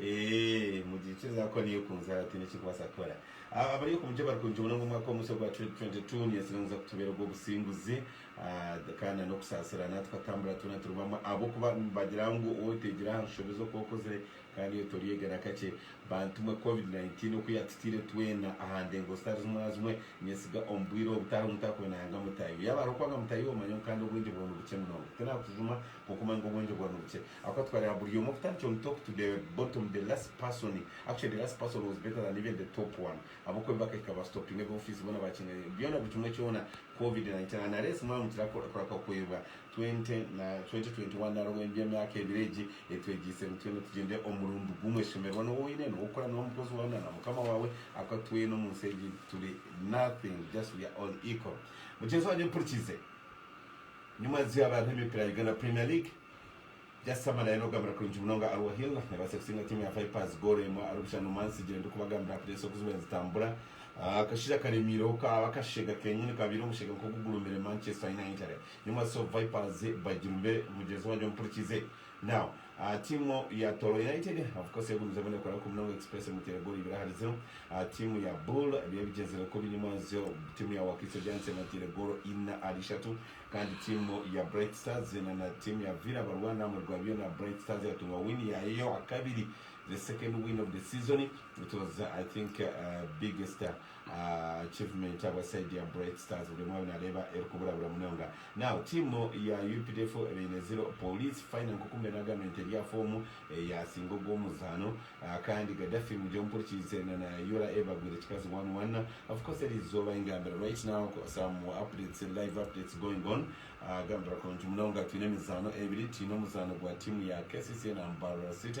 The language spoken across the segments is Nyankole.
Eeh mugikiriza ahakuba niyo ekunzire aho tihaine ekirikubaasa kukora. Abari oku mugyera bari kurungi munonga omwaka omutsyo ogwa 2022. Ninyesire ngu niza kutubeera ogw'obusinguzi kandi na n'okusaasirana tukatambura twena turi bamwe ahabw'okuba nibagira ngu owoteegire aha nshobe z'oku okozire kandi oyo toryeega na kakye. Bantu mwe covid 19 oku yatutaire twena aha ndengo zitari zimwe na zimwe, ninyesiga omu bwire obutaaho mutaakube nayanga mutahi we. Yaaba hariho kwanga mutahi we manya ngu kandi obwengye bwawe ni bukye munonga. Tinaakujuma. Kwonka omwanya gw'obwengye bwaba nibukye ahabw'okuba tukareeba buri omwe kutandikira omu top to the bottom, the last person, actually the last person was better than even the top one ahabw'okuba ebi bakahika ba stoppinga ebi office boona bakinganya byona buri kimwe kyona covid 19 and unless mwaba mugira kurahwa kweebwa 20 na 2021 nari obw'ebi by'emyaka ebiri egi etwegyeise ngu twena tugyende omu murundu gumwe shemererwa n'owu oine, n'owu orikukora nawe, omukozi waawe na na mukama waawe ahabw'okuba twena omu nsi egi turi nothing just we are all equal. Mugyenzi wangye mpurikize. Nyuma nizyo habaho emipiira ya Uganda Premier League. Just Amara y'arikugambira kurungi munonga Arua Hill neebaasa kutsinga tiimu ya Vipers goolo emwe ahari busha Numan Sigire ndikubagambira Pirates oku zibaire nizitambura. Akashaija karemiireho kaaba akasheega kenyini kaabaire omusheega nk'ogugurumire Manchester United. Nyuma so Vipers bagirumire mugyenzi wangye omupurikize Now, aha tiimu ya Toro United, of course yagumizemu nekora kubi munonga Express emuteire goolo ibiri ahari ziro. Aha tiimu ya Bull byo bigyenzire kubi nyima nzyo tiimu ya Wakiso Giants ebateire goolo ina ahari ishatu kandi tiimu ya Bright Stars zeena na tiimu ya Villa barwana aha murwa byona Bright Stars yatunga win yaayo ey'owa kabiri, the second win of the season, it was I think biggest. Achievement habwa side ya Bright Stars buri omwe nareeba erikuburabura munonga. Now team ya updf ebaine zero police fine nka oku mbwenu agambire nti eri aha foomu eyasinga ogu omuzaano kandi Gaddafi mugye omumpurikiize na na ura eva agwire kikazi one one of course eri izooba ingambira right now some updates live updates going on agambira kurungi munonga twine emizaano ebiri twine omuzaano gwa team ya kcca na Mbarara City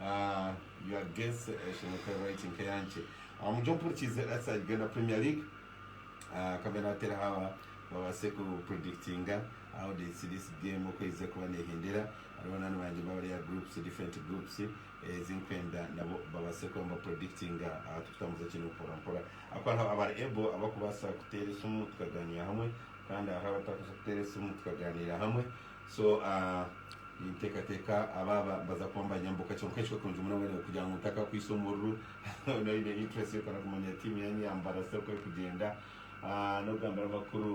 Ahh your guess eshemwe ekaba eri right nk'eyangye Ahh mugye mpurikiize Let's say Uganda Premier League Ahh kambe natereho aba babaase ku predictinga how they see this game oku erize kuba nehendera Hariho banaani bangye bari aha groups different groups ezi nkwenda nabo babaase kuba niba predictinga Ahh tukutambuza ekintu mpora mpora ahakuba hariho abari able abakubaasa kuteera esimu tukagaaniira hamwe kandi hariho abatari kubaasa kuteera esimu tukagaaniira hamwe So ninteekateeka abaaba nibaza kuba nibanyambuka kyonka ekyo kurungi munonga nyowe kugira ngu ntakakwitse omururu Weena oine interest y'okuza kumanya tiimu ya Nyambara Cell ku erikugyenda n'okugambira abakuru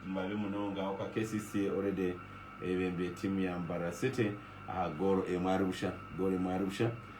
mabi munonga ahabw'okuba KCC already ebembire tiimu ya Mbara City aha goolo emwe ahari busha goolo emwe ahari busha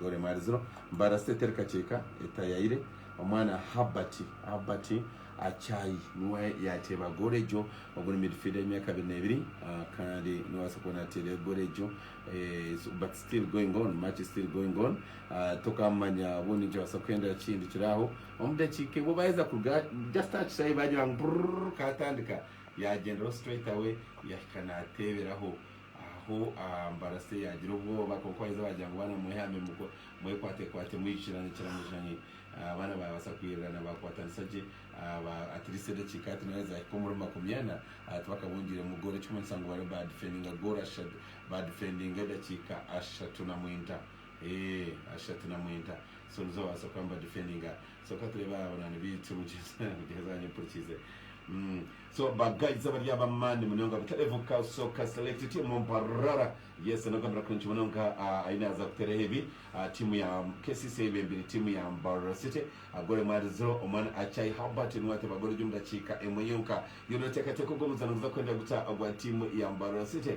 Dore Emariziiro, Mbarasi eteri kakyeka etayaire, Omwana Herbert Herbert Achai niwe yaateeba goolo egyo oguri midfielder y'emyaka abiri n'ebiri kandi noobaasa kuba naateera goolo egyo but still going on match is still going on tokaamanya obu nikibaasa kuhendera kihindukire aho omu dakiika emwe baaheza kuruga just aha kishaayi baagira ngu burururu kaatandika yaagyenderaho straight away yahika naateeberaho. Aho Mbarase yaagira obwoba, kwonka waaheza baagira ngu baana mwehame, mwekwatekwate, mwijukirane kiramujanye. Abaana baabaasa kwirirana, baakwatanisa gye at least edakiika ati nari zaahika omuri makumi ana tibakabungiiremu gooro, ekirikumanyisa ngu bariyo baadifendinga gooro ashatu, baadifendinga edakiika ashatu na mwinta, eeh ashatu na mwinta. So nizo baabaasa kuba nibadifendinga. So ka tureebe aha banywani baitu mugyenzi mugyenzi wanyu mpurikiize mm so ba guides abari ab'amaani munonga butareebuka soka select team mparara yes n'ogambira kurungi munonga ah, aine aza kuteeraho ebi ah, tiimu ya KCC ei bembire tiimu ya Mbarara City ah, goal emwe ahari zero omwana Achai Herbert niwe ateeba goal egi omu dakiika emwe yonka yoona oteekateeka ogu omuzaano guza kuhendera guta ogwa tiimu ya Mbarara City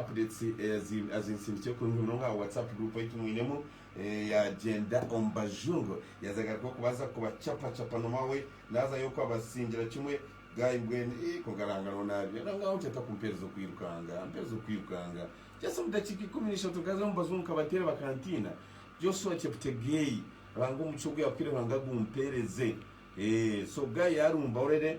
Updates azinsindikire kurungi munonga aha WhatsApp group ei tumwinemu eya Gyenda omu Bajungu. Yaaza agaruka okubaza kubacapacapa n'omwawe naaza y'oku abasingira kimwe. Guy, Mbwenu ii konka Ruhanga noona abyona. Ngaaho ntyo atakumpeereza okwirukanga. Mpeereza okwirukanga. Just omu dakiika ikumi na ishatu nkaza omu Bajungu nkabateera bakantiina. Joshua Cheptegei, Ruhanga omugisha ogu yaakuhaire Ruhanga agumpeereze. Eeh so Guy yaarumba orere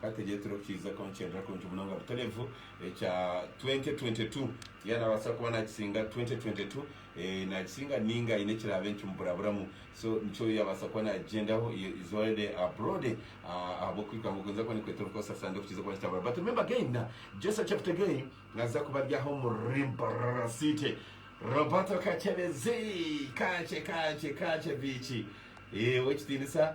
Ka tureetere okukihiza kwa nikyendeera kurungi munonga Butolevu ekya 2022. Yaaba naabaasa kuba naakisinga 2022, eh, naagisinga nainga haine ekiraabe nikimuburaburamu. So nikyo yaabaasa kuba naagyendaho, he is already abroad, ah, ahabw'okuhika nk'oku ninza kuba ndikweta omu Koosa Sande okukihiza kwa nikitabura. But remember again, na Joshua Cheptegei naaza kuba ari aha omu Rimparara City. Roberto Kachebezi, Kache, Kache, Kache Biiki, eh, ow'ekitiinisa.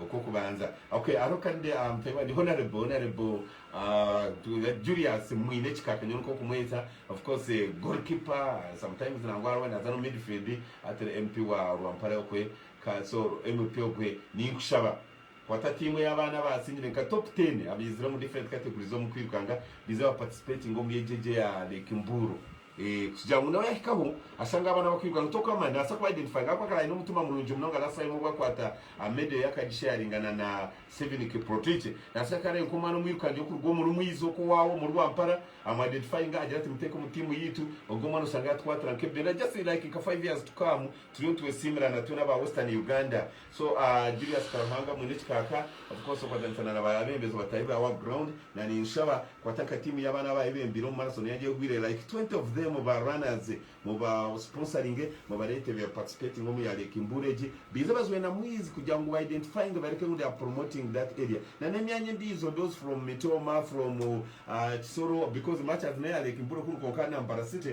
Okw'okubanza ok hariho kandi mutaahi wangye Honourable Honourable Julius mwine ekikaka nyowe nk'okumweta of course goal keeper sometimes nangwa hariho owaabaire naaza n'omu midfield hati ori MP wa Rwampara okwe ka so MP ogwe ninkushaba kwata team ey'abaana abaasingire nka top ten abaizire omu different categories z'omu kwirukanga baize ba participatinge omuri egi egi eya Lake Mbuuro. Kugira ngu nawe yahikaho ashange abaana bakwiruka ngu Tokama nabaasa ku identifyinga ahakuba akaba aine omutima murungi munonga nashi aine obu akwata media ye akagisharinga na na Steven Kiprotich nashi akaba areba nkomwana omwirukangi okuruga omuri Mwiza oku owaawe omuri Rwampara amu identifyinga agira ati muteeke omu team yaitu ogwo omwana oshange yatukwatira nk'ebigyere just like nka five years to come turiyo nitwesiimira natwe naba Western Uganda So Julius Karuhanga mwine ekikaaka of course okwatanisa na ba abembezi abatari ba wa ground na ninshaba kwata nka team ya abana abaye bembire omu marathon yangye egwire like 20 of them ba runners mu ba sponsoringe mu barete be participatinga omu ya lake mbuura egi beize bazwe na mwizi kugira ngu ba identifyinge bareke ngu they are promoting that area na nemyanya endijo those from mitooma from kisoro because much as neya lake mbuura ekuru kwonka na mbarara city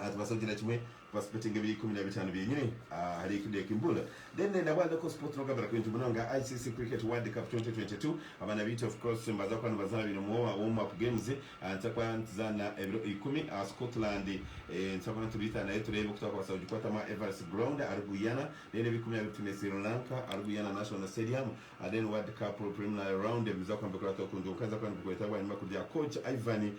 Aha tubaasa kugira kimwe kubaspottinga ebiri ikumi na bitaano byenyine ahari eki neeki mbuura. Then nabwa local sport nokugambira kwingi munonga ICC Cricket World Cup 2022 abaana baitu of course nibaza kuba nibazaana baine warm up games nituza kuba nituzaana ebiro ikumi aha Scotland nituza kuba nitubaita nayo tureebe oku twakubaasa kugikwatamu aha Everest Ground ahari Guyana then ebi ikumi na bibiri twine Sri Lanka ahari Guyana National Stadium then World Cup preliminary round ebi nibiza kuba nibikorwa Tokundu nkaza kuba nibikureetera bwanyima kurya coach Ivan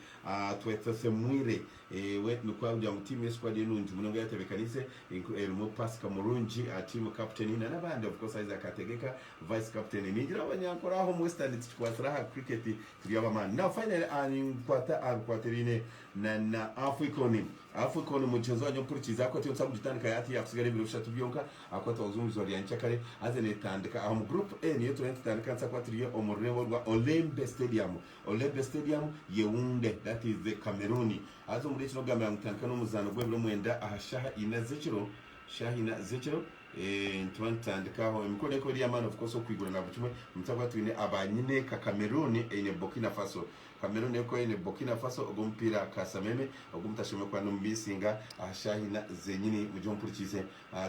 Twetsesemwire. Ewe nikwo ahabw'okugira ngu tiimu y'esukwadi enungi munonga yatebekanise, erimu Pasika Murungi aha tiimu, kaputeni, na n'abandi, of course Isaac Hategeka, vice kaputeni. Ningira abanyankore aha omu Western titukwatsire aha cricket turi ab'amaani. Now finally aha ninkwata aha bikwate ebiine na na Afcon. Afcon mugyenzi wangye ompurikiize ahakuba tiyo nitubaasa kugitandika yaaba tiyakusigaire ebiro bishatu byonka ahakuba twaguza omu izooba rya nyenkya kare haza neetandika aha omu group A niyo turiyo nitutandika nitubaasa kuba turi omu rurembo rwa Olembe Stadium Olembe Stadium, Yeounde, that is Cameroon. Haza omuri ekiro okugambira ngu nitutandika n'omuzaano gw'ebiro mwenda aha shaaha ina ez'ekiro, shaaha ina z'ekiro, eeh nituba nitutandika aho. Emikoro neekuba eri ey'amaani of course okwigura na buri kimwe. Omu kyaakuba twine aba nyineeka Cameroon eine Burkina Faso. Cameroon neekuba eine Burkina Faso, ogwo omupiira kaasameme ogu mutashemereire kuba nimumiisinga aha shaaha ina zeenyini mugye ompurikiise.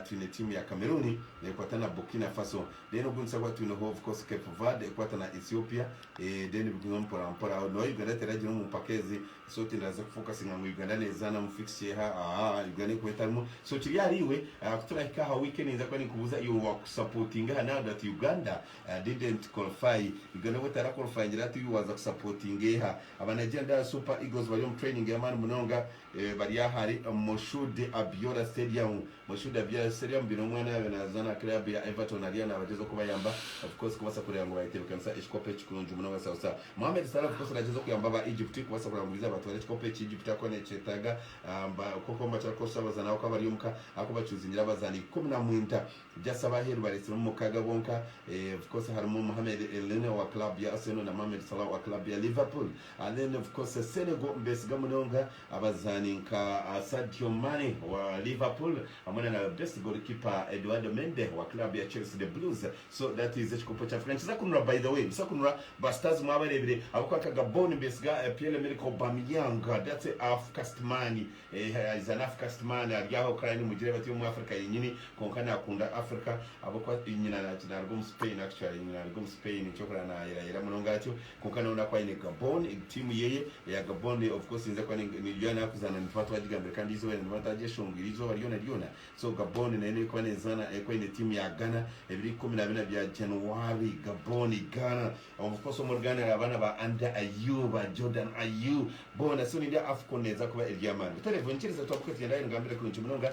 twine tiimu ya Cameroon nekwata na Burkina Faso then ogundi sabwa twine of course Cape Verde ekwata na Ethiopia then biguma mpora mpora aho nowa Uganda teragire omu mpaka ezi so tindaaze kufokasinga ngu Uganda nezaana mu fixture eha ahaa Uganda erikuba etarimu so kiri ahari iwe ku turahika aha weekend ninza kuba ninkubuuza iwe wakusapotinga aha now that Uganda didn't qualify Uganda obu etara qualifyingire hati iwe waza kusapotinga eha aba Nigerian Super Eagles bari omu training yamaani munonga. Bari ahari Moshood Abiola Stadium. Moshood Abiola Stadium baine omwana yaabaire naazaana aha club ya Everton ariyo naabagyezaho kubayamba of course kubaasa kureeba ngu baayetebeekanisa ekikopo eki kurungi munonga sausa. Mohamed Salah of course naagyezaho kuyamba aba Egypt kubaasa kureeba ngu baiza baatwara ekikopo eki Egypt ahakuba neekyetaaga kwonka omu makya arakosha abazaani ahabw'okuba bari omu ka ahakuba bacuuzingira abazaani ikumi na mwinda just ab'aheeru bareetsiremu mukaaga bonka of course harimu Mohamed Elneny owa club ya Arsenal na Mohamed Salah owa club ya Liverpool. Alain of course Senegal mbesiga munonga abazaani nka Sadio Mane wa Liverpool hamwe na na best goalkeeper Eduardo Mende wa club ya Chelsea the Blues so that is ekikopo kya Africa nikiza kunura by the way busa kunura ba stars mwabarebire ahabwokuba nka Gabon mbesiga Pierre Emerick Aubameyang that's a Afcast man eh is an Afcast man ari aho kare nimugireba tiri omu Africa yenyini kwonka nakunda Africa ahabwokuba nyina naruga omu Spain actually nyina naruga omu Spain nikyo kureba nayera yera munonga atyo. Kwonka nawe nakuba aine Gabon egi tiimu yeye eya Gabon of course eyinza kuba niyo yaba erikuzaana nituba twagigambire kandi eizooba ryona niba nitwagyeshongwire eizooba ryona ryona so Gabon nayo n'erikuba nezaana erikuba eine tiimu ya Ghana ebiro ikumi na bina bya January Gabon Ghana of course omuri Ghana hariho abaana ba Anda Ayew ba Jordan Ayew boona so nendi Afcon neeza kuba eri ey'amaani butare buriho nikirizooba twambuke tugyende ahari ngambire kurungi munonga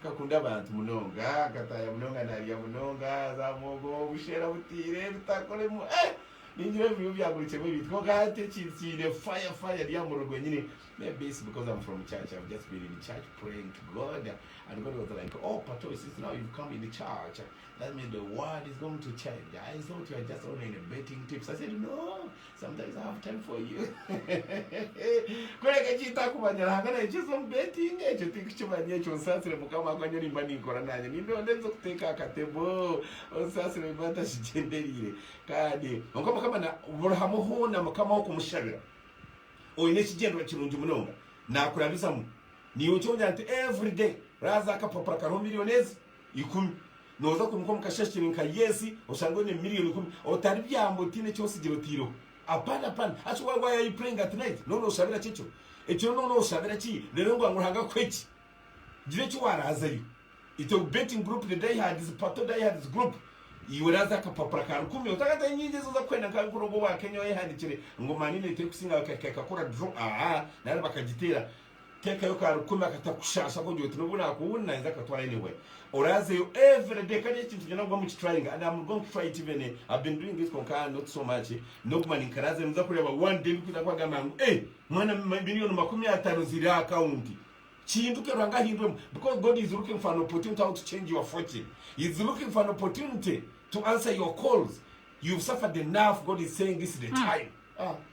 Nkakunda abantu munonga, nkataaya munonga naarya munonga za muhogo, obushera butaire, ebitakoremu eeh ningira ebi biriyo byagurikyemu ebintu kwonka hati ekintu kiine fire fire eri aha murundi gwenyine maybe it's because I'm from church I've just been in church praying to God and God was like oh Patoe since now you've come in church that means the word is going to change I thought you are just only in betting tips I said no Sometimes I have time for you kureka kyita kumanya ruhanga naye kyeza omu betting ekyo tikukimanya ekyo nsasire mukama akuba nyowe nimba ninkora nanye nimba ondenze kuteka akatebo onsasire nimba ntakigyenderire kandi nka mukama na buri hamwe hona mukama okumushabira oyine ekigyenderwa kirungi munonga nakurabizamu niwe okyongera nti everyday raza akapapura kariho million ezi ikumi. Nooza kwimuka omu kashashiri nka Yesi oshange oine miriyoni ikumi otaribyamba otaine eki otsigire otaireho? Apana, apana. Actually why, why are you praying at night? Nooba nooshabira ki ekiro? Ekiro nooba nooshabira ki reero ngu Ruhanga akuhe ki? Gira eki waaraazayo. Ita ogu betting group the die hards, Pato die hards group, iwe raaza akapapura ka rukumi otakatayo nyingi ezi oza kuhenda nka nk'oru ogu owa Kenya owayehandikire ngu Man United terikusinga bakahika ekakora draw, aa, nari bakagiteera. Teekayo ka rukumi akatakushaasha kugira oti n'obu naakuhunde naija akatwara anyway. Oraazeyo everyday kandi eki kintu kyona oguma okitryinga and am going to try it even I've been doing it kwonka not so much n'oguma ninkaraazeyo nooza kureeba one day bikwija kukugamba ngu eh mwana million makumi ataano ziri aha account. Kihinduke Ruhanga ahindwemu because God is looking for an opportunity how to change your fortune. He is looking for an opportunity to answer your calls. You've suffered enough God is saying this is the time.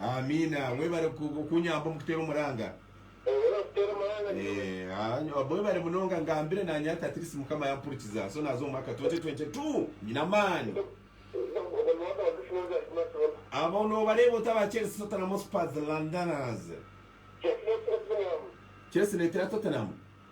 Amiina webare kunyamba omu kuteera omuranga. Mwebare munonga ngambire nanye ati at least mukama yampurikiza so naza omumwaka 2022 nyine amaani. Abo nobareeba ota aba Chelsea, Tottenham, Spurs, Londoners? Chelsea netera Tottenham.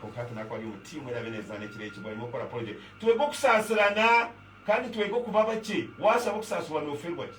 Kwonka hati naaku ari omu tiimu eraabe neezaana ekireekirwe arimo kukora porojekiti. Twege okusaasirana kandi twege okuba abakye. Waashaba okusaasirwa nooferwa ki?